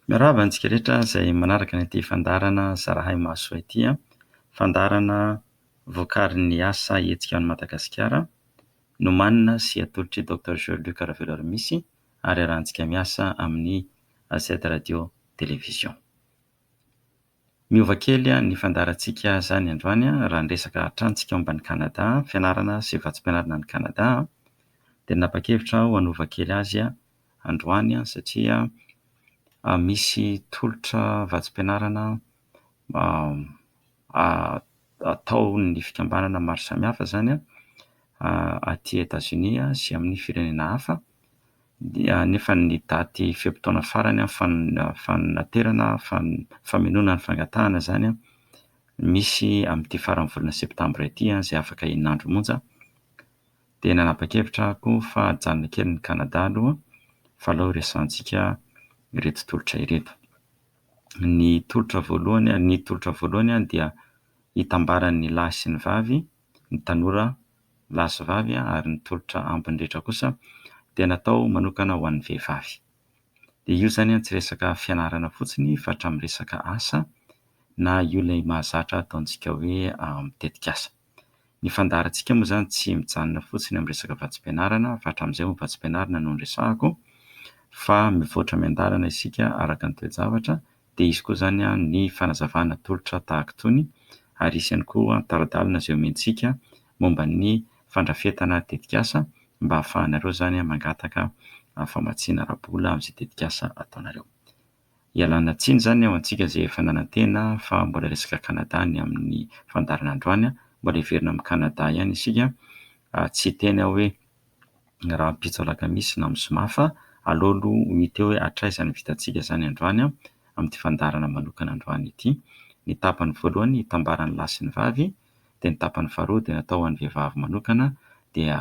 Miarahaba antsika rehetra izay manaraka ity fandaharana Zarahay Mahasoa ity an! Fandaharana vokarin'ny asa hetsika ao an'i Madagasikara, nomanina sy atolotr'i Doctor Jean Luc Raveloarimisy ary iarahantsika miasa amin'ny AZ Radio Télévision. Miova kely ny fandaharantsika zany androany raha ny resaka hatranintsika momba an'i Canada, fianarana sy vatsim-pianarana any Canada dia nanapa-kevitra aho hanova kely azy androany satria misy tolotra vatsim-pianarana ataon'ny fikambanana maro samihafa zany aty Etazonia sy amin'ny firenena hafa dia nefa ny daty fe-potoana farany fanaterana, famenoana ny fangatahana izany an, misy amin'ity faran'ny volana septambra ity izay afaka enina andro monja, dia nanapa-kevitra aho koa fa hajanona kely ny Canada aloha fa aleo hiresahantsika ireto tolotra ireto. Ny tolotra voalohany, ny tolotra voalohany dia hitambaran'ny lahy sy ny vavy, ny tanora lahy sy vavy ary ny tolotra ambiny rehetra kosa dia natao manokana ho an'ny vehivavy. Dia io izany tsy resaka fianarana fotsiny fa hatramin'ny resaka asa na io ilay mahazatra ataontsika hoe tetikasa. Ny fandaharantsika moa izany tsy mijanona fotsiny amin'ny resaka vatsim-pianarana fa hatramin'izay moa vatsim-pianarana no niresahako fa mivoatra miandalana isika araka ny toe-javatra Dia hisy koa izany ny fanazavana tolotra tahaka itony ary hisy ihany koa tari-dalana izay omentsika momba ny fandrafetana tetikasa mba hahafahanareo izany mangataka famatsiana ara-bola amin'izay tetikasa ataonareo. Ialana tsiny izany ho antsika izay efa nanantena fa mbola resaka Canada ny amin'ny fandaharana androany, mbola hiverina amin'ny Canada ihany isika, tsy hiteny aho hoe. ny rahampitso alakamisy na mosmafa, aleo aloha ho hita eo hoe hatraiza ny vitantsika izany androany amin'ity fandaharana manokana androany ity. Ny tapany voalohany hitambara ny lahy sy ny vavy dia ny tapany faharoa dia natao ho an'ny vehivavy manokana dia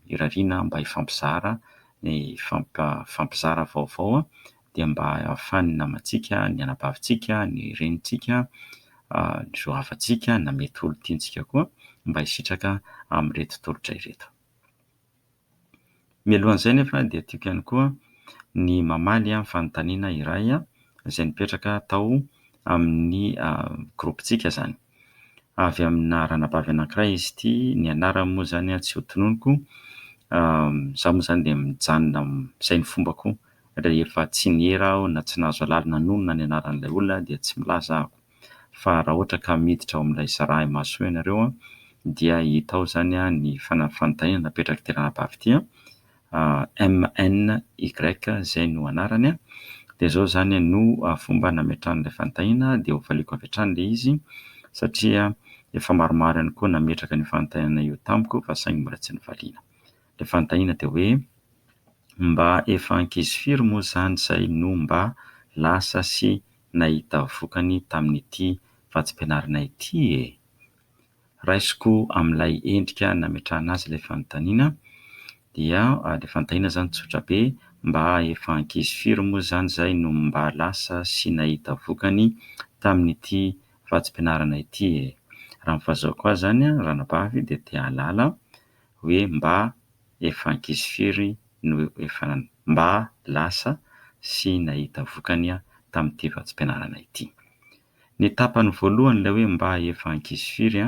irariana mba hifampizara ny hifampizara vaovao dia mba hahafahan'ny namantsika, ny anabavintsika, ny renintsika, ny zo havantsika na mety olon-tiantsika koa mba hisitraka amin'ireto tolotra ireto. Mialohan'izay anefa dia tiako ihany koa ny mamaly ny fanontaniana iray izay nipetraka tao amin'ny gropintsika izany. Avy amina ranabavy anankiray izy ity, ny anarany moa izany tsy ho tononiko. Izaho moa izany dia mijanona izay ny fombako rehefa tsy niera aho na tsy nahazo alalana hanonona ny anaran'ilay olona dia tsy milaza aho. fa raha ohatra ka miditra ao amin'ilay zaraha imasoa ianareo dia hita ao izany ny fanafantainana napetraky ity ranabavy ity MNY izay no anarany dia izao izany no fomba nametrahany ilay fantaina dia ho valiako avy hatrany ilay izy satria efa maromaro ihany koa nametraka an'io fantainana io tamiko fa saingy mbola tsy novaliana. Ilay fantaina dia hoe mba efa ankizy firy moa izany izay no mba lasa sy nahita vokany tamin'ity vatsim-pianarana ity e! Raisiko amin'ilay endrika nametrahana azy ilay fanontaniana dia ilay fanontaniana izany tsotra be, mba efa ankizy firy moa izany izay no mba lasa sy nahita vokany tamin'ity vatsim-pianarana ity e! Raha ny fahazoako azy izany, ranabavy dia te-hahalala hoe mba efa ankizy firy no efa mba lasa sy nahita vokany tamin'ity vatsim-pianarana ity. Ny tapany voalohany ilay hoe mba efa ankizy firy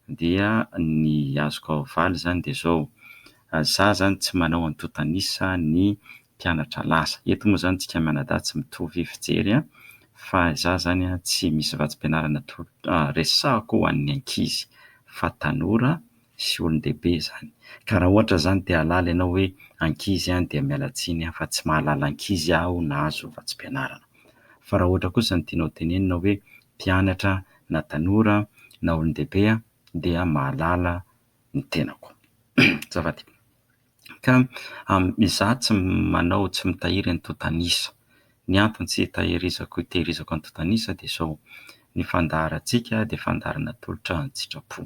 dia ny azoko havaly izany dia izao, za izany tsy manao antontan'isa ny mpianatra lasa. Eto moa izany isika mianadahy tsy mitovy fijery fa za izany tsy misy vatsim-pianarana resahako ho an'ny ankizy fa tanora sy olon-dehibe izany. Ka raha ohatra izany te hahalala ianao hoe ankizy an dia miala tsiny an fa tsy mahalala ankizy aho na azo vatsim-pianarana. Fa raha ohatra kosa ny tianao tenenina hoe mpianatra an na tanora an na olon-dehibe an dia mahalala ny tenako. Azafady. Ka amin'ny izaho tsy manao tsy mitahiry antontan'isa. Ny antony tsy hitahirizako hitehirizako antontan'isa dia izao, ny fandaharantsika dia fandaharana atolotra an-tsitrapo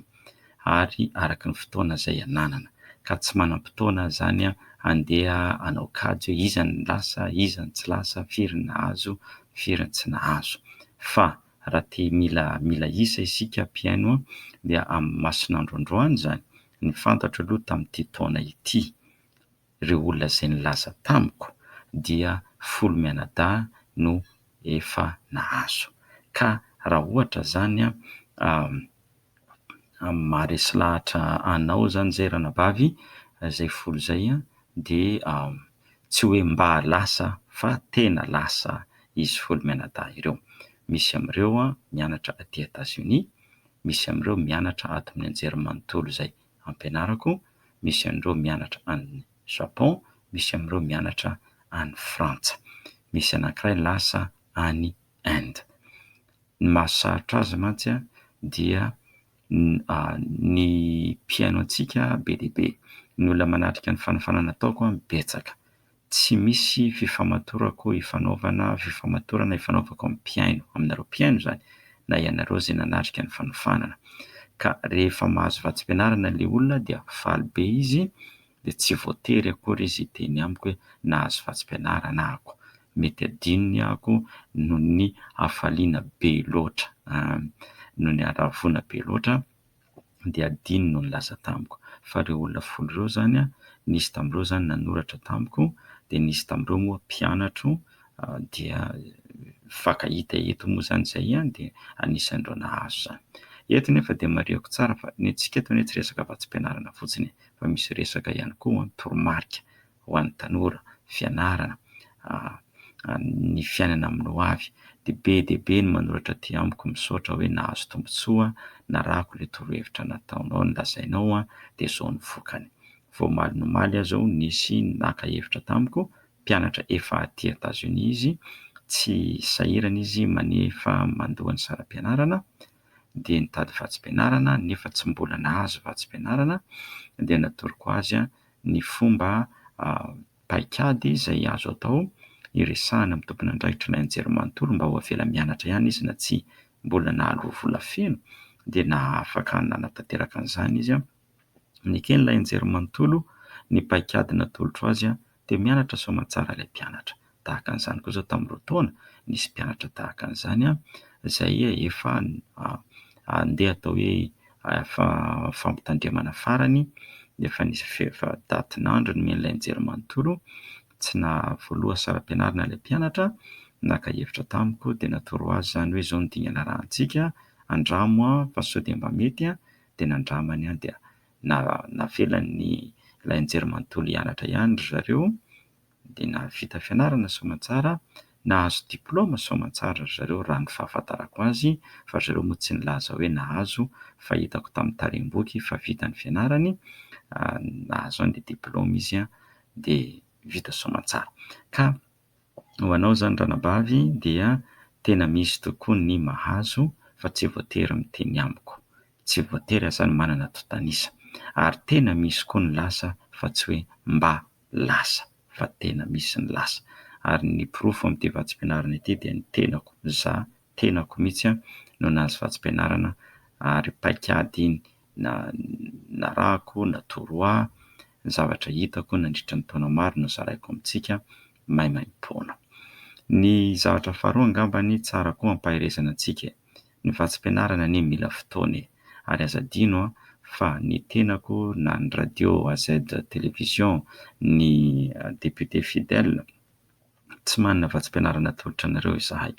ary araka ny fotoana izay ananana, ka tsy manam-potoana izany handeha hanao kajy hoe iza no lasa, iza no tsy lasa, firy ny nahazo, firy ny tsy nahazo. Fa raha te mila mila isa isika mpihaino dia amin'ny mason'andro androany izany Ny fantatro aloha tamin'ity taona ity, ireo olona izay nilaza tamiko dia folo mianadahy no efa nahazo. Ka raha ohatra izany maharesy lahatra anao izany izay ranabavy, izay folo izay dia tsy hoe mba lasa fa tena lasa izy folo mianadahy ireo. Misy amin'ireo mianatra aty Etazonia, misy amin'ireo mianatra ato amin'ny anjerimanontolo izay ampianarako, misy an'ireo mianatra any Japon, misy amin'ireo mianatra any Frantsa. Misy anankiray lasa any Inde. Ny mahasarotra azy mantsy dia ny mpihaino antsika be dia be. Ny olona manatrika ny fanofanana ataoko betsaka. Tsy misy fifamatorako ifanaovana fifamatorana ifanaovako amin'ny mpihaino, aminareo mpihaino izany, na ianareo izay nanatrika ny fanofanana. Ka rehefa mahazo vatsim-pianarana ilay olona dia faly be izy, dia tsy voatery akory izy hiteny amiko hoe nahazo vatsim-pianarana ahako. Mety adinony ahako noho ny hafaliana be loatra, noho ny haravoana be loatra. dia adino no nilaza tamiko fa ireo olona folo ireo izany nisy tamin'ireo izany nanoratra tamiko dia nisy tamin'ireo moa mpianatro dia mifankahita eto moa izany izay ihany dia anisan'ireo nahazo izany. Eto nefa dia marihiko tsara fa ny antsika eto anie tsy resaka vatsim-pianarana fotsiny e fa misy resaka ihany koa toromarika ho an'ny tanora, fianarana, ny fiainana amin'ny ho avy dia be dia be ny manoratra aty amiko misaotra hoe nahazo tombotsoa narahako ilay torohevitra nataonao nolazainao an dia zao ny vokany omaly nomaly aho zao nisy naka hevitra tamiko mpianatra efa aty Etats Unis izy tsy sahirana izy manefa mandoa ny saram-pianarana dia nitady vatsim-pianarana nefa tsy mbola nahazo vatsim-pianarana dia natoroko azy an ny fomba paikady izay azo atao hiresahana amin'ny tompon'andraikitr'ilay anjerimanontolo mba ho avela mianatra ihany izy na tsia. Mbola nahaloa vola feno dia nahafaka nanatanteraka an'izany izy. Neken'ilay anjerimanontolo ny paikady natolotro azy dia mianatra soamantsara ilay mpianatra. tahaka an'izany kosa tamin'ireo taona nisy mpianatra tahaka an'izany izay efa handeha atao hoe fampitandremana farany nefa nisy efa datin'andro nomen'ilay nijery manontolo tsy nahavoaloha saram-pianarana ilay mpianatra naka hevitra tamiko dia natoro azy izany hoe izao ny dingana arahantsika andramo aho fa sao dia mba mety aho dia nandramany aho dia navelany ilay nijery manontolo hianatra ihany ry zareo dia nahavita fianarana soamantsara, nahazo diplaoma soamantsara ry zareo raha ny fahafantarako azy fa ry zareo moa tsy nilaza hoe nahazo fa hitako tamin'ny tarehi-boky fa vita ny fianarany, nahazo an dia diplaoma izy an dia vita soamantsara. Ka ho anao izany ranabavy dia tena misy tokoa ny mahazo fa tsy voatery miteny amiko, tsy voatery aza ny manana tontan'isa, ary tena misy koa ny lasa fa tsy hoe mba lasa fa tena misy ny lasa ary ny porofo amin'ity vatsim-pianarana ity dia ny tenako, za tenako mihitsy an, no nahazo vatsim-pianarana ary paik'ady iny na narahako na toroha ny zavatra hitako nandritra ny taona maro no zaraiko amintsika maimaimpoana. Ny zavatra faharoa angambany tsara koa ampaherezana antsika e! Ny vatsim-pianarana anie mila fotoana e! Ary aza adino fa ny tenako na ny radio AZ Télévision, ny député Fidèle, tsy manana vatsim-pianarana atolotra anareo izahay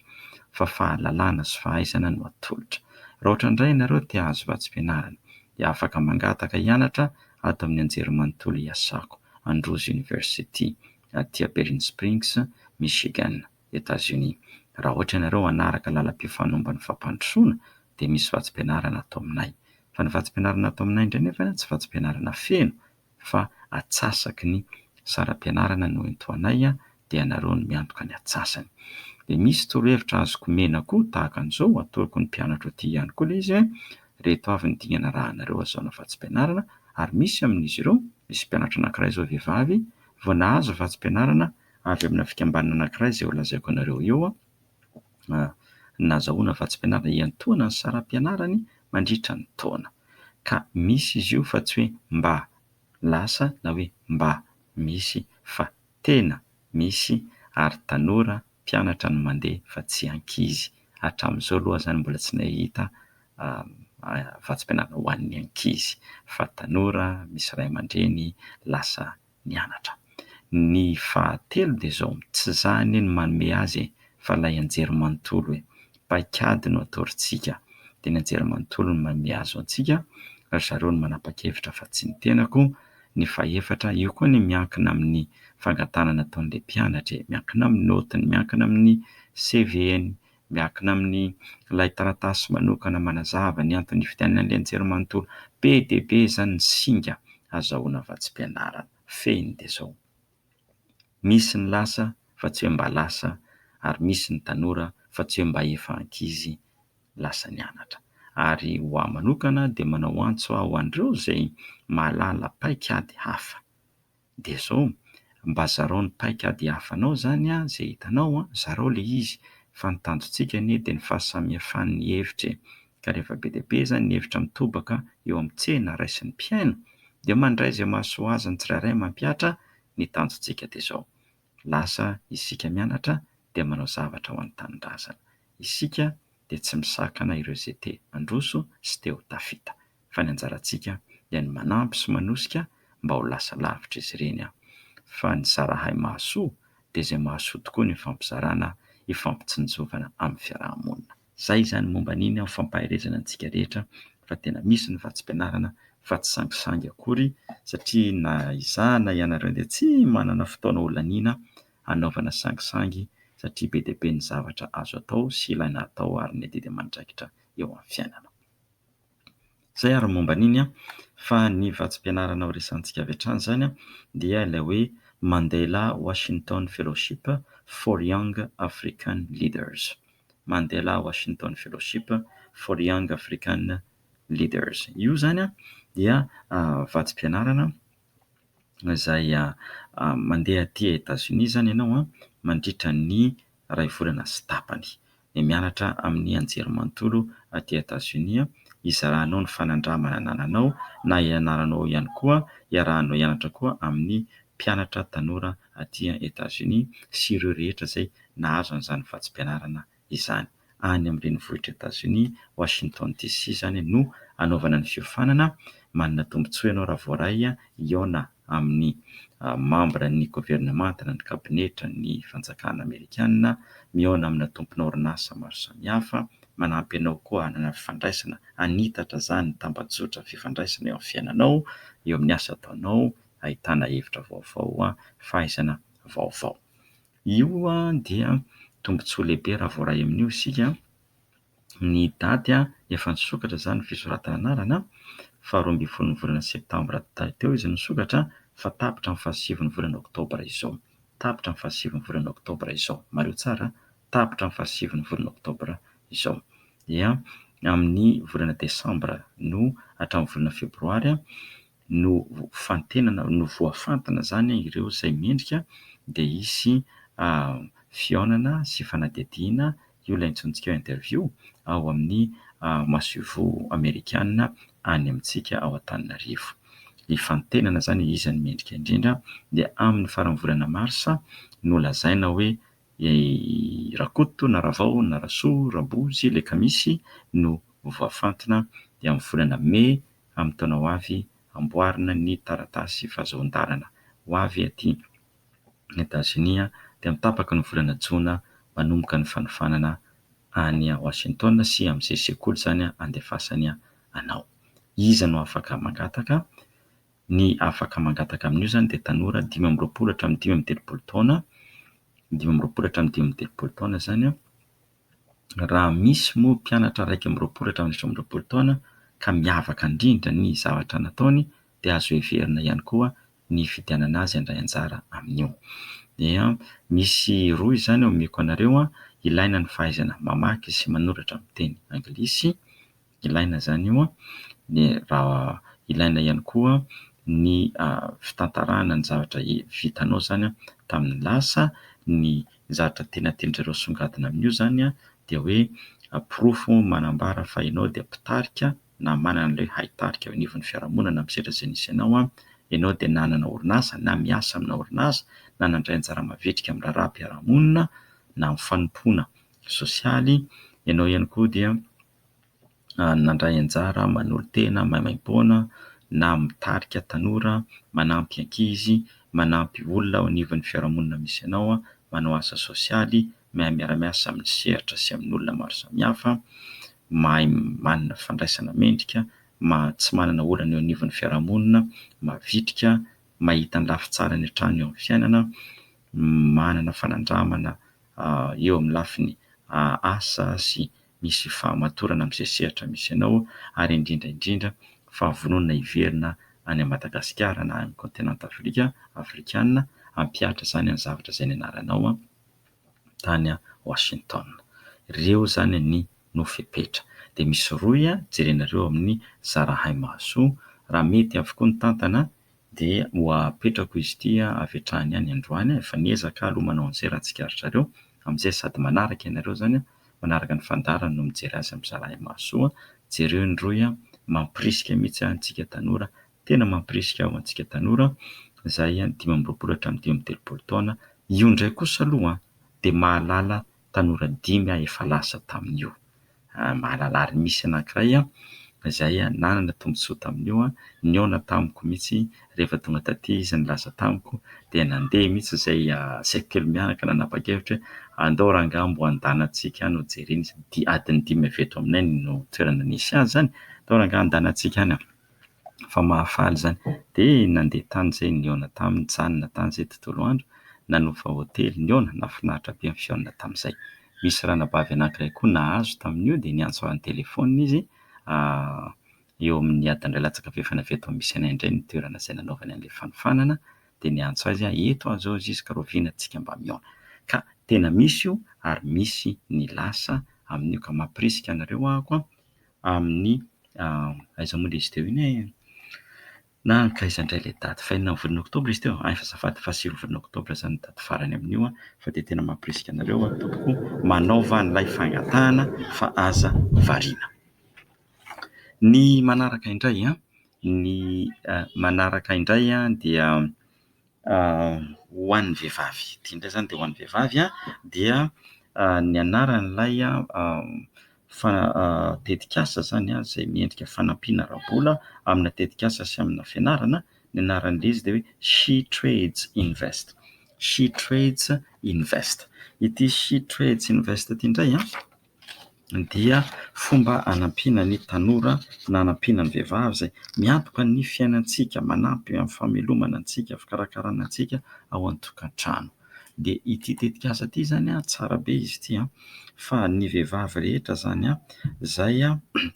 fa fahalalana sy fahaizana no atolotra. Raha ohatra indray ianareo te hahazo vatsim-pianarana dia afaka mangataka hianatra ato amin'ny anjerimanontolo iasako, Androzy University, aty Aperin'ny Springs, Michigan. Etazonia. Raha ohatra ianareo hanaraka lalam-pifanohomba ny fampandrosoana dia misy vatsim-pianarana atao aminay. Fa ny vatsim-pianarana atao aminay indray nefa tsy vatsim-pianarana feno fa atsasaky ny saram-pianarana no entoanay dia ianareo no miantoka ny atsasany. Dia misy torohevitra azoko omena koa tahaka an'izao, atoroko ny mpianatra aty ihany koa ilay izy hoe ireto avy ny dingana arahanareo hazahoana vatsim-pianarana ary misy amin'izy ireo, misy mpianatra anankiray izao vehivavy vao nahazo vatsim-pianarana avy amina fikambanana anankiray izay ho lazaiko anareo eo, nazahoana vatsim-pianarana hiantohana ny saram-pianarany mandritra ny taona. Ka misy izy io fa tsy hoe mba lasa na hoe mba misy fa tena misy ary tanora mpianatra no mandeha fa tsy ankizy. Hatramin'izao aloha izany mbola tsy nahita vatsim-pianarana ho an'ny ankizy fa tanora misy ray aman-dreny lasa mianatra. Ny fahatelo dia izao, tsy za anie no manome azy e, fa ilay Anjerimanontolo e. Paikady no atorontsika, dia ny Anjerimanontolo no manome azy ho antsika, ry zareo no manapa-kevitra fa tsy ny tenako, ny fahefatra, io koa anie miankina amin'ny fangatahana nataon'ilay mpianatra e, miankina amin'ny naotiny, miankina amin'ny CV-ny, miankina amin' ilay taratasy manokana manazava ny anton' ividianana ny lenjero manontolo. Be dia be izany ny singa azahoana vatsim-pianarana fehiny dia izao. Misy ny lasa fa tsy hoe mba lasa ary misy ny tanora fa tsy hoe mba efa ankizy lasa nianatra. Ary ho ahy manokana dia manao antso aho ho an'ireo izay mahalala paik'ady hafa. Dia zao, mba zarao ny paik'ady hafanao zany an, ze hitanao an, zarao le izy, fa ny tanjontsika anie dia ny fahasamihafan'ny hevitra e! Ka rehefa be dia be zany ny hevitra mitobaka eo amin'ny tsena raisin'ny mpihaino, dia mandray ze mahasoa azy ny tsirairay mampihatra, ny tanjontsika dia zao, Lasa isika mianatra dia manao zavatra ho an'ny tanindrazana. Isika dia tsy misakana ireo izay te handroso sy te ho tafita. Fa ny anjarantsika dia ny manampy sy manosika mba ho lasa lavitra izy ireny. Fa ny zarahay mahasoa dia izay mahasoa tokoa ny ifampizarana, ifampitsinjovana amin'ny fiaraha-monina. Zay izany momba an'iny aho fampaherezana antsika rehetra fa tena misy ny vatsim-pianarana fa tsy sangisangy akory satria na izaho na ianareo dia tsy manana fotoana holaniana hanaovana sangisangy satria be dia be ny zavatra azo atao sy ilaina atao ary ny adidy aman-draikitra eo amin'ny fiainana. Izay ary ny momba an'iny an! Fa ny vatsim-pianarana horesahintsika avy hatrany izany dia ilay hoe Mandela Washington Fellowship for Young African Leaders. Mandela Washington Fellowship for Young African Leaders. Io izany dia vatsim-pianarana. izay mandeha aty Etazonia izany ianao mandritra ny iray volana sy tapany. Dia mianatra amin'ny anjerimanontolo aty Etazonia, izaranao ny fanandramana anananao na ianaranao ao ihany koa, iarahanao hianatra koa amin'ny mpianatra tanora aty Etazonia sy ireo rehetra izay nahazo an'izany vatsim-pianarana izany. Any amin'ny renivohitr'i Etazonia, Washington DC izany no hanaovana ny fiofanana. Manana tombontsoa ianao raha voaray hihaona amin'ny mambra ny governemanta na ny kabinetra ny fanjakana amerikana, mihaona amina tompon'orinasa maro samihafa, manampy anao koa hanana fifandraisana hanitatra izany ny tambajotra fifandraisana eo amin'ny fiainanao, eo amin'ny asa ataonao, ahitana hevitra vaovao, fahaizana vaovao. Io dia tombontsoa lehibe raha voaray amin'io isika. Ny daty efa nisokatra izany ny fisoratana anarana. Faharoa ambin'ny folon'ny volana septambra teo izy nisokatra fa tapitra ny fahasivy ny volana oktobra izao. Tapitra ny fahasivy ny volana oktobra izao. Mariho tsara, tapitra ny fahasivy ny volana oktobra izao. Dia amin'ny volana desambra no hatramin'ny volana febroary. nofantenana, novoafantina izany ireo izay mendrika dia hisy fihaonana sy fanadihadiana, io ilay antsointsika hoe interview, ao amin'ny masoivoho amerikana any amintsika ao Antananarivo. Hifantenana izany iza no mendrika indrindra dia amin'ny faran'ny volana marsa no lazaina hoe Rakoto na Ravao na Rasoa, Rabozy, Lekamisy no voafantina dia amin'ny volana mey amin'ny taona ho avy amboarina ny taratasy fahazoan-dalana ho avy aty Etazonia dia amin'ny tapaky ny volana jona manomboka ny fanofanana any Washington sy amin'izay sekoly izany andefasany anao. Iza no afaka mangataka? Ny afaka mangataka amin'io izany dia tanora dimy amby roapolo hatramin'ny dimy amby telopolo taona, dimy amby roapolo hatramin'ny dimy amby telopolo taona izany an, raha misy moa mpianatra iraika amby roapolo hatramin'ny efatra amby roapolo taona ka miavaka indrindra ny zavatra nataony dia azo heverina ihany koa ny hifidianana azy handray anjara amin'io. Dia misy roa izany omeko anareo, ilaina ny fahaizana mamaky sy manoratra amin'ny teny anglisy, ilaina izany io raha ilaina ihany koa ny fitantarana ny zavatra vitanao izany tamin'ny lasa ny zavatra tena tendrereo songadina amin'io izany dia hoe porofo manambara fa ianao dia mpitarika na manana ilay haitarika eo anivon'ny fiarahamonina na misedra izay nisy anao an ianao dia nanana orinasa na miasa amina orinasa na nandray anjara mavitrika amin'ny raharaham-piarahamonina na amin'ny fanompoana sosialy ianao ihany koa dia nandray anjara manolo-tena maimaimpoana na mitarika tanora, manampy ankizy, manampy olona ao anivon'ny fiarahamonina misy anao, manao asa sosialy, mahay miara-miasa amin'ny sehatra sy amin'olona maro samihafa, mahay manana fandraisana mendrika, tsy manana olana eo anivon'ny fiarahamonina, mavitrika, mahita ny lafy tsara ny hatrany eo amin'ny fiainana, manana fanandramana eo amin'ny lafiny asa sy. misy fahamatorana amin'izay sehatra misy anao ary indrindra indrindra fa vonona hiverina any Madagasikara na any Kaontinanta Afrika, Afrikana, hampihatra izany any zavatra izay nianaranao tany Washington. Ireo izany ny no fepetra. Dia misy rohy jerenareo amin'ny zarahay mahasoa, raha mety avokoa ny tantana dia ho apetrako izy ity avy hatrany any androany, efa niezaka aloha manao an'izay raha tsikaritrareo, amin'izay sady manaraka ianareo izany an, manaraka ny fandaharana no mijery azy amin'izay raha mahasoa, jereo ny rohy an, mampirisika mihitsy antsika tanora, tena mampirisika aho antsika tanora izay dimy amby roapolo hatramin'ny dimy amby telopolo taona, io indray kosa aloha dia mahalala tanora dimy aho efa lasa tamin'io. Mahalala ary misy anankiray izay nanana tombontsoa tamin'io, nihaona tamiko mihitsy rehefa tonga taty izy nilaza tamiko dia nandeha mihitsy izay saika telo miaraka nanapa-kevitra hoe andao rangahy mba andehanantsika any hojerena izy ity, adiny dimy avy eto aminay no toerana nisy azy izany, andao rangahy andehanantsika any. fa mahafaly izany. Dia nandeha tany izay nihaona taminy, nijanona tany izay tontolo andro, nanova hotely, nihaona, nahafinaritra be ny fihaonana tamin'izay. Misy ranabavy anankiray koa nahazo tamin'io dia niantso ahy an-telefaonina izy, eo amin'ny adin'iray latsaka avy eo efa navy eto amin'ny misy anay indray ny toerana izay nanaovany an'ilay fanofanana, dia niantso ahy izy aho, eto aho izao Ziska, rahoviana antsika mba mihaona. Ka tena misy io ary misy ny lasa amin'io ka mampirisika anareo ahako an, amin'ny aiza moa ilay izy teo iny e? na ka aiza indray ilay daty fa enina amby volana oktobra izy teo ay fa azafady faha sivy volana oktobra zany ny daty farany amin'io an fa dia tena mampirisika anareo an tompoko manaova an'ilay fangatahana fa aza variana ny manaraka indray an ny manaraka indray an dia Ho an'ny vehivavy, ity indray izany dia ho an'ny vehivavy dia ny anaran'ilay tetikasa izany izay miendrika fanampiana ara-bola amina tetikasa sy amina fianarana, ny anaran'ilay izy dia hoe She Trades Invest, She Trades Invest. Ity She Trades Invest ity indray an! dia fomba hanampiana ny tanora na hanampiana ny vehivavy izay miantoka ny fiainantsika, manampy amin'ny famelomana antsika, fikarakarana antsika ao an-tokantrano. Dia ity tetikasa ity izany tsara be izy ity fa ny vehivavy rehetra izany izay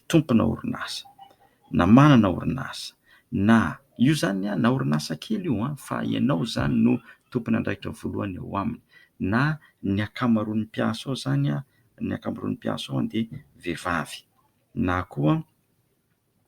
tompona orinasa na manana orinasa na. Io izany na orinasa kely io fa ianao izany no tompon'andraikitra voalohany ao aminy na ny ankamaroan'ny mpiasa ao izany, ny ankamaroan'ny mpiasa ao dia vehivavy na koa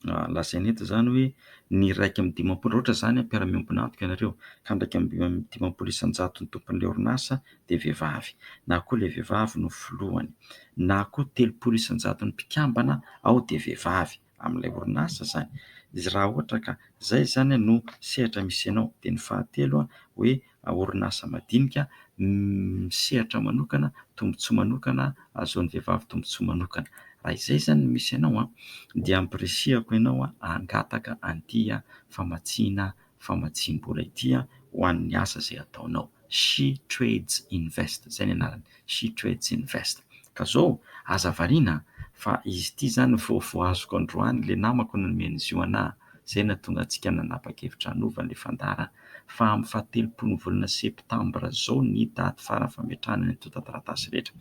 lazaina eto izany hoe ny iraika amby dimampolo, raha ohatra izany hoe mpiara-miombon'antoka ianareo ka ny iraika amby dimampolo isan-jaton'ny tompon'ilay orinasa dia vehivavy na koa ilay vehivavy no filohany na koa telopolo isan-jaton'ny mpikambana ao dia vehivavy. amin'ilay orinasa izany. Izy raha ohatra ka izay izany no sehatra misy anao. Dia ny fahatelo hoe orinasa madinika misehatra manokana, tombontsoa manokana ahazoan'ny vehivavy tombontsoa manokana. Raha izay izany no misy anao dia ampirisihako ianao hangataka an'ity famatsiana famatsiam-bola ity ho an'ny asa izay ataonao. She Trades Invest, izay ny anarany, She Trades Invest. Ka izao, aza variana fa izy ity izany vao vao azoko androany ilay namako no nomeny izy io anà, izay no nahatonga antsika nanapa-kevitra hanova ilay fandara fa amin'ny fahatelopolo ny volana septambra izao ny daty farany fametrahana ny antontan-taratasy rehetra.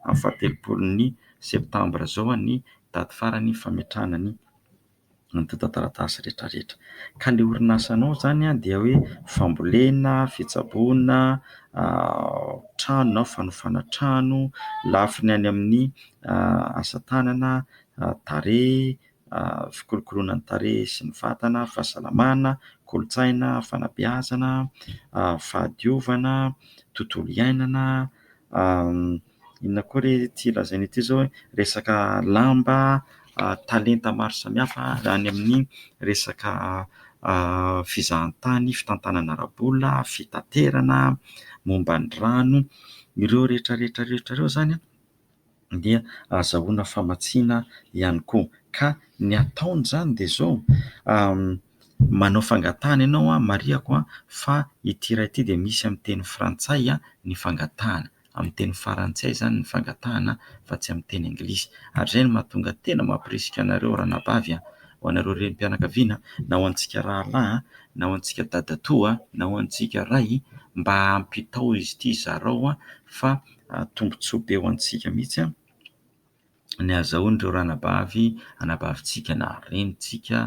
Amin'ny fahatelopolo ny septambra izao ny daty farany fametrahana ny. antontan-taratasy rehetrarehetra. Ka ilay orinasanao izany dia hoe fambolena, fitsaboana, trano na fanofana trano, lafiny any amin'ny asa tanana, tarehy, fikolokoloana ny tarehy sy ny vatana, fahasalamana, kolontsaina, fanabeazana, fahadiovana, tontolo iainana. Inona koa re ity lazaina ity izao e? Resaka lamba, talenta maro samihafa any amin'ny resaka fizahantany, fitantanana ara-bola, fitaterana, momba ny rano. Ireo rehetra rehetra rehetra ireo izany dia ahazahoana famatsiana ihany koa. Ka ny ataony izany dia izao, manao fangatahana ianao marihiko fa ity iray ity dia misy amin'ny teny frantsay ny fangatahana. amin'ny teny farantsay izany ny fangatahana fa tsy amin'ny teny anglisy ary izay no mahatonga tena mampirisika anareo ranabavy a! ho anareo renim-pianakaviana na ho antsika rahalahy na ho antsika dadatoa na ho antsika ray mba hampitao izy ity zarao fa tombotsoa be ho antsika mihitsy a! ny hahazahoan'ireo ranabavy anabavintsika na renintsika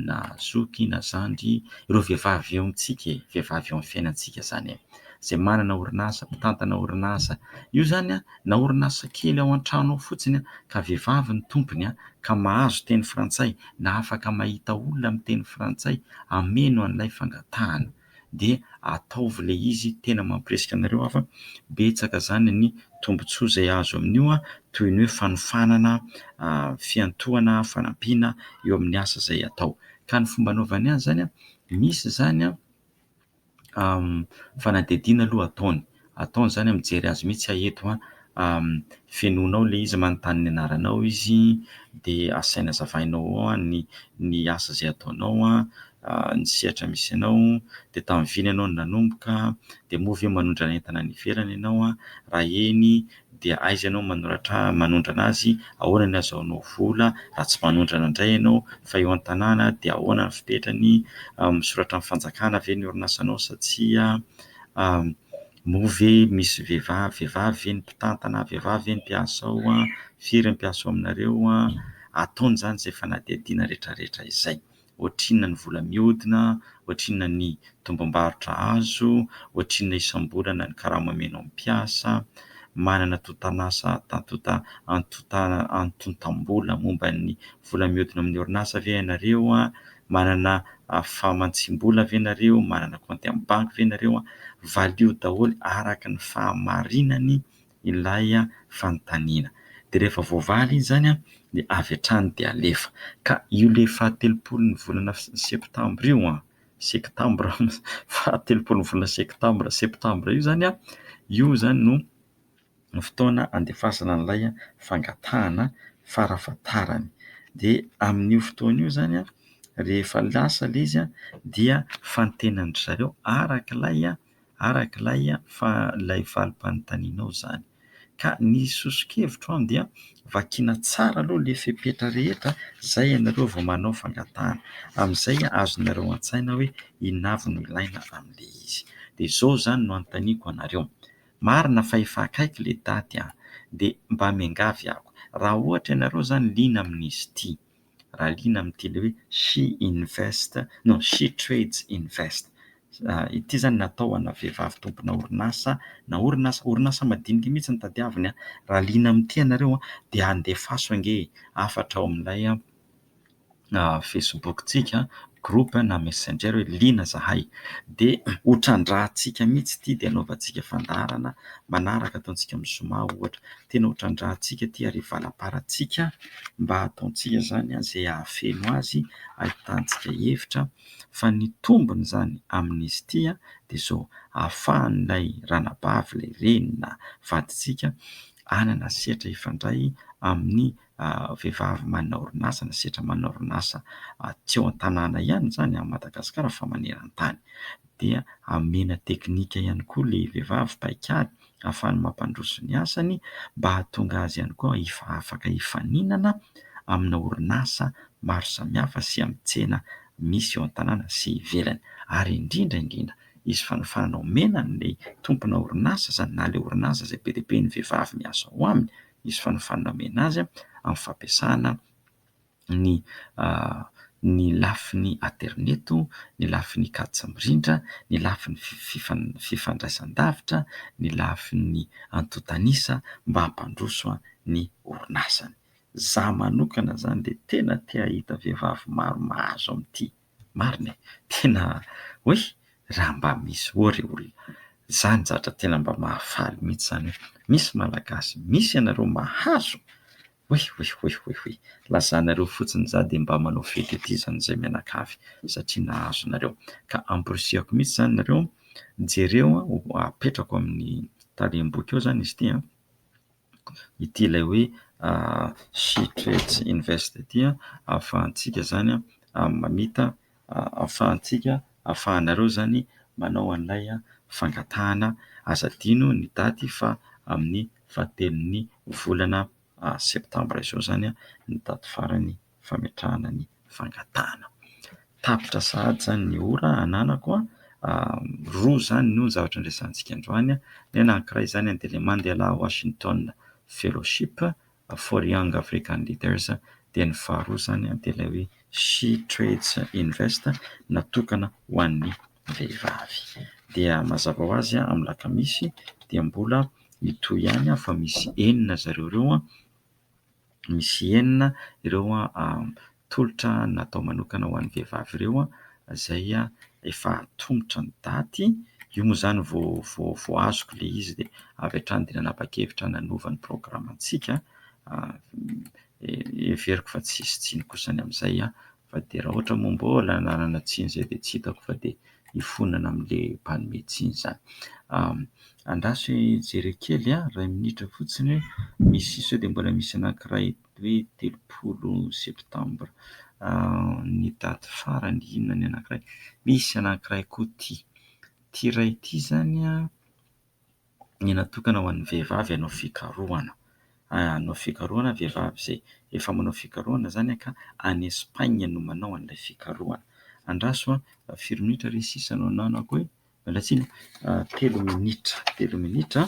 na zoky na zandry ireo vehivavy eo amintsika e! vehivavy eo amin'ny fiainantsika izany e! izay manana orinasa, mpitantana orinasa, io izany na orinasa kely ao an-trano ao fotsiny ka vehivavy no tompony ka mahazo teny frantsay na afaka mahita olona miteny frantsay hameno an'ilay fangatahana. dia ataovy ilay izy tena mampirisika anareo hafa fa betsaka izany ny tombontsoa izay azo amin'io toy ny hoe fanofanana, fiantohana, fanampiana eo amin'ny asa izay atao. Ka ny fomba anaovany azy izany, misy izany fanadihadiana aloha ataony ataony zany mijery azy mihitsy aho eto an, fenoinao ilay izy manontany ny anaranao izy dia asainy azavainao ao an ny asa izay ataonao an, ny sehatra misy anao, dia tamin'ny vina ianao no nanomboka, dia moa ve manondrana entana any ivelany ianao an, raha eny dia aiza ianao manoratra manondrana azy, ahoana ny azahoanao vola raha tsy manondrana indray ianao, fa eo an-tanàna dia ahoana ny fipetrany, misoratra amin'ny fanjakana ve ny orinasanao sa tsia. Moa ve misy vehivavy, vehivavy ve ny mpitantana, vehivavy ve ny mpiasa ao, firy ny mpiasa ao aminareo, ataony izany izay fanadihadiana rehetrarehetra izay, ohatrinona ny vola mihodina, ohatrinona ny tombom-barotra azo, ohatrinona isam-bolana ny karama omena ny mpiasa, manana tontan'asa antontam-bola momba ny vola mihodina amin'ny orinasa ve ianareo, Manana fahamantsim-bola ve nareo? Manana kaonty amin'ny banky ve nareo? Valio daholo araka ny fahamarinany ilay fanontaniana. Dia rehefa voavaly izy izany dia avy hatrany dia alefa. Ka io ilay fahatelopolon'ny volana septambra io, sektambra, fahatelopolon'ny volana sektambra, septambra, io izany, io izany no ny fotoana andefasana an'ilay fangatahana farafahatarany. Dia amin'io fotoana io izany rehefa lasa ilay izy dia fantenandry zareo araka ilay araka ilay fa- ilay valim-panontanianao izany. Ka ny soso-kevitro dia vakiana tsara aloha ilay fepetra rehetra izay ianareo vao manao fangatahana. Amin'izay azonareo an-tsaina hoe inona avy no ilaina amin'ilay izy. Dia izao izany no anontaniako anareo. Marina fa efa akaiky le daty an! de mba miangavy ako raha ohatra ianareo zany liana amin'izy ity, raha liana amin'ity le hoe She Invest non She Trades Invest ity zany natao ho ana vehivavy tompona orinasa na orinasa orinasa madinika mihitsy no tadiaviny an! raha liana amin'ity ianareo an! de andefaso ange e! hafatra ao amin'ilay Facebook-tsika, groupe na messenger hoe liana zahay dia ho trandrahantsika mihitsy ity dia anaovantsika fandaharana manaraka ataontsika amin'ny zoma ohatra. Tena ho trandrahantsika ity ary hivalamparantsika mba hataontsika izany izay hahafeno azy hahitantsika hevitra fa ny tombony izany amin'izy ity dia izao hahafahan'ilay ranabavy, ilay reny na vadintsika hanana sehatra hifandray amin'ny vehivavy manana orinasa na sehatra manana orinasa tsy ao an-tanàna ihany izany amin'i Madagasikara fa maneran-tany. Dia amena teknika ihany koa ilay vehivavy paikady ahafahany mampandroso ny asany mba hahatonga azy ihany koa afaka hifaninana amina orinasa maro samihafa sy amin'ny tsena misy eo an-tanàna sy ivelany. Ary indrindra indrindra, hisy fanafahana omena an'ilay tompona orinasa izany na ilay orinasa izay be dia be ny vehivavy miasa ao aminy. hisy fanofanana omena azy amin'ny fampiasana ny ny lafiny aterineto, ny lafiny kajy mirindra, ny lafiny fifandraisan-davitra, ny lafiny antontan'isa mba hampandroso ny orinasany. Izaho manokana izany dia tena te hahita vehivavy maro mahazo amin'ity. Marina e! Tena hoe raha mba misy ho'a ry olona. Izany zatra tena mba mahafaly mihitsy izany hoe misy Malagasy, misy ianareo mahazo. Oy oy oy oy oy. Lazanareo fotsiny za dia mba manao fety aty izany izay mianakavy satria nahazo nareo. Ka amporisihako mihitsy izany nareo, jereo apetrako amin'ny talem-boky eo izany izy ity a. ity ilay hoe She Trades Invest ity ahafahantsika izany mamita, ahafahantsika, ahafahanareo izany manao an'ilay fangatahana. Aza adino ny daty fa amin'ny fahatelon'ny volana septambra izao izany ny daty farany. fametrahana ny fangatahana. Tapitra sahady izany ny ora ananako. Roa izany no zavatra niresahantsika androany. Ny anankiray izany dia ilay Mandela Washington Fellowship for Young African Leaders, dia ny faharoa izany dia ilay hoe SheTrades Invest natokana ho an'ny vehivavy. Dia mazava ho azy amin'ny alakamisy dia mbola mitohy ihany fa misy enina zareo ireo. misy enina ireo tolotra natao manokana ho an'ny vehivavy ireo izay efa atomotra ny daty. Io moa izany vao azoko ilay izy dia avy hatrany dia nanapa-kevitra nanova ny programantsika. Heveriko fa tsy hisy tsiny kosa ny amin'izay. fa dia raha ohatra moa mbola hananana tsiny izay dia tsy hitako fa dia hifonana amin'ilay mpanome tsiny izany. Andraso hijery kely aho iray minitra fotsiny hoe misy sao dia mbola misy anankiray hoe telopolo septambra ny daty farany inona ny anankiray, misy anankiray koa ity, ity iray ity izany an. Ny natokana ho an'ny vehivavy hanao fikarohana. Hanao fikarohana ny vehivavy izay efa manao fikarohana izany ka any Espagne no manao an'ilay fikarohana. Andraso an! firy minitra re sisa no ananako e? Miala tsiny an! telo minitra, telo minitra,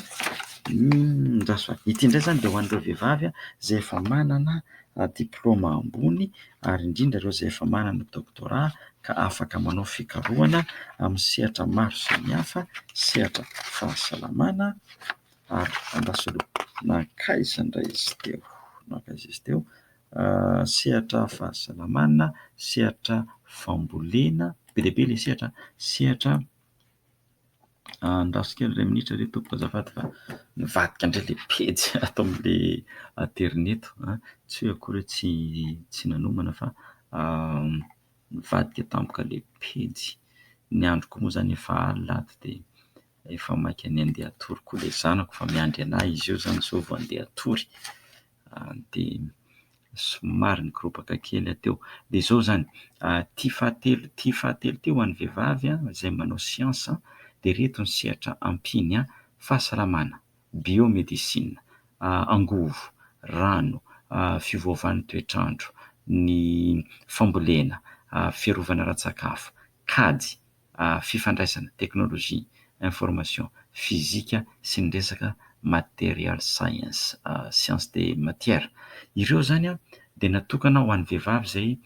andraso an! ity indray izany dia ho an'ireo vehivavy izay efa manana diplaoma ambony ary indrindra ireo izay efa manana doktora ka afaka manao fikarohana amin'ny sehatra maro samihafa, sehatra fahasalamana ary andrasana nankaiza indray izy teo? nankaiza izy teo? sehatra fahasalamana, sehatra fambolena, be dia be ilay sehatra, sehatra Andraso kely iray minitra re tompoko azafady fa nivadika indray ilay pejy ato amin'ilay aterineto a, tsy hoe akory hoe tsy tsy nanomana fa nivadika tampoka ilay pejy. Ny androko moa izany efa alina ato dia efa maika ny handeha hatory koa ilay zanako fa miandry anà izy io izany sao vao handeha hatory. dia somary nikoropaka kely aho teo. Dia izao izany, ity fahatelo ity fahatelo ity ho an'ny vehivavy izay manao siansa, dia ireto ny sehatra ampiany, fahasalamana, biomedisina, angovo, rano, fiovaovan'ny toetr'andro, ny fambolena, fiarovana ara-tsakafo, kajy, fifandraisana, technologie, information, fizika sy ny resaka material science, science de matière. Ireo izany dia natokana ho an'ny vehivavy izay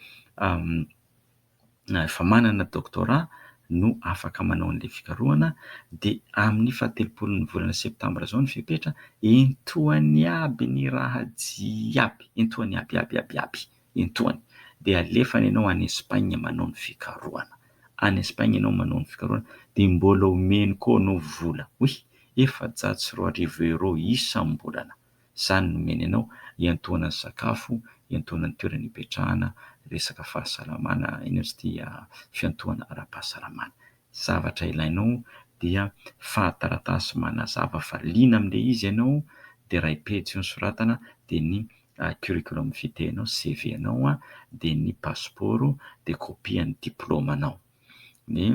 efa manana doctorat no afaka manao an'ilay fikarohana dia amin'ny fahatelopolon'ny volana septambra izao ny fepetra, entohany aby ny raha jiaby, entohany aby, aby, aby, aby. Intoany dia alefany ianao any Espagne manao ny fikarohana. Any Espagne ianao manao ny fikarohana dia mbola omeny koa anao vola oy efajato sy roa arivo euro isam-bolana. Izany no omeny anao hiantohana ny sakafo, hiantohana ny toerana hipetrahana, resaka fahasalamana, iny ozy ity fiantohana ara-pahasalamana. zavatra ilainao dia fahataratasy manazava fa liana amin'ilay izy ianao, dia iray pejy eo ny soratana, dia ny curriculum vitae anao, CV anao, dia ny pasipaoro, dia kopia an'ny diplaomanao. Ny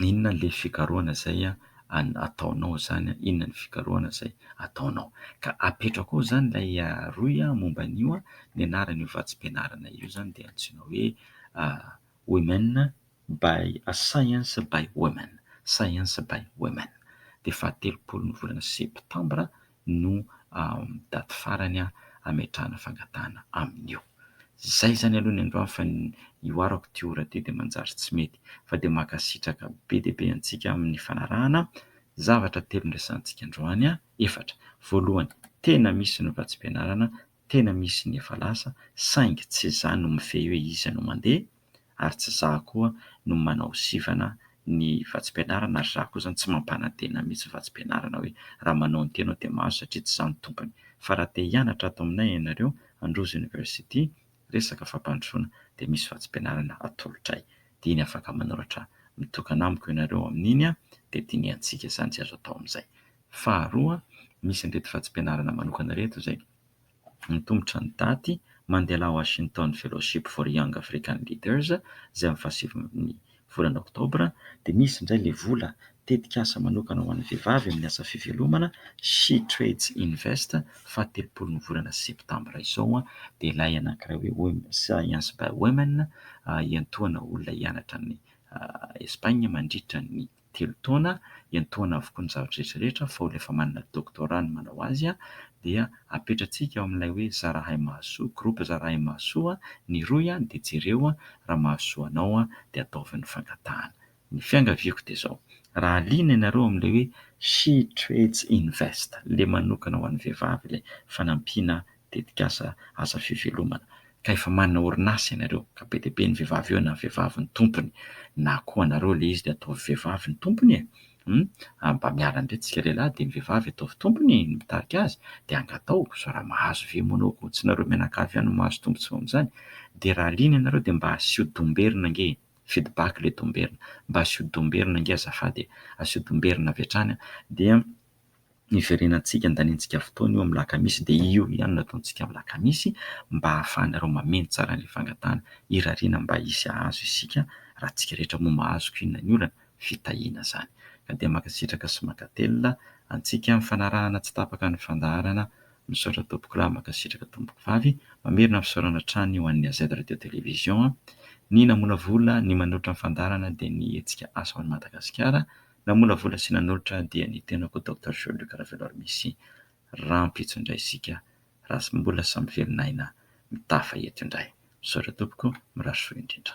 inona ilay fikarohana izay ataonao izany, inona ny fikarohana izay ataonao. Ka apetrako ao izany ilay rohy momba an'io, ny anaran'io vatsim-pianarana io izany dia antsoina hoe Women by a science by women science by women dia fahatelopolo ny volana septambra no daty farany hametrahana fangatahana amin'io izay izany aloha ny androany fa ny io arako ity ora ity dia manjary tsy mety fa dia mankasitraka be dia be antsika amin'ny fanarahana zavatra telo noresahantsika androany an efatra voalohany tena misy ny vatsim-pianarana tena misy ny efa lasa saingy tsy izany no mifehy hoe iza no mandeha ary tsy izaho koa no manao sivana ny vatsim-pianarana ary izaho koa izany tsy mampanantena mihitsy ny vatsim-pianarana hoe raha manao ny tenao dia mahazo satria tsy izaho no tompony fa raha te hianatra ato aminay ianareo Androzy University resaka fampandrosoana dia misy vatsim-pianarana atolotray dia iny afaka manoratra mitokana amiko ianareo amin'iny an dia dinihantsika izany izay azo atao amin'izay faharoa misy an'ireto vatsim-pianarana manokana ireto izay Antomotra ny daty, Mandela Washington Fellowship for Young African Leaders, izay amin'ny fahasivin'ny volana oktobra, dia misy indray ilay vola tetikasa manokana ho an'ny vehivavy amin'ny asa fivelomana, She Trades Invest, fahatelopolon'ny volana septambra izao, dia ilay anankiray hoe Women, Science by Women, hiantohana olona hianatra any Espagne mandritra ny. telo taona, iantohana avokoa ny zava-drehetra rehetra fa olona efa manana doctorat no manao azy, dia apetratsika ao amin'ilay hoe zarahay mahasoa, groupe zarahay mahasoa, ny rohy dia jereo raha mahasoa anao dia ataovy ny fangatahana. Ny fiangaviako dia izao, raha liana ianareo amin'ilay hoe She Trades Invest, ilay manokana ho an'ny vehivavy ilay fanampiana tetikasa asa fivelomana ka efa manana orinasa ianareo ka be dia be ny vehivavy eo na vehivavy ny tompony na koa anareo ilay izy dia ataovy vehivavy ny tompony e! hum mba miala indray tsika lehilahy dia ny vehivavy ataovy tompony ny mpitarika azy dia angatao sao raha mahazo ve moa anao koa tsy nareo mianakavy ihany no mahazo tombontsoa amin'izany dia raha liana ianareo dia mba asio domberina ange e! feedback ilay domberina mba asio domberina ange azafady e! asio domberina avy hatrany dia hiverenantsika handaniantsika fotoana io amin'ny alakamisy dia io ihany no ataontsika amin'ny alakamisy mba hahafahanareo mameno tsara an'ilay fangatahana irariana mba hisy hahazo isika raha antsika rehetra moa mahazo ko inona ny olana fitahiana izany ka dia mankasitraka sy mankatelina antsika amin'ny fanarahana tsy tapaka ny fandaharana misaotra tompoko lahy mankasitraka tompoko vavy mamerina fisaorana hatrany ho an'ny AZ radio télévision ny namolavola ny manoatra ny fandaharana dia ny hetsika asa ho an'i Madagasikara Namolavola sy nanolotra dia ny tenako Docteur Joe Luc Ravelor Misy rahampitso indray isika raha samy mbola samy velon'aina mitafa eto indray. Misaotra tompoko, mirary soa indrindra.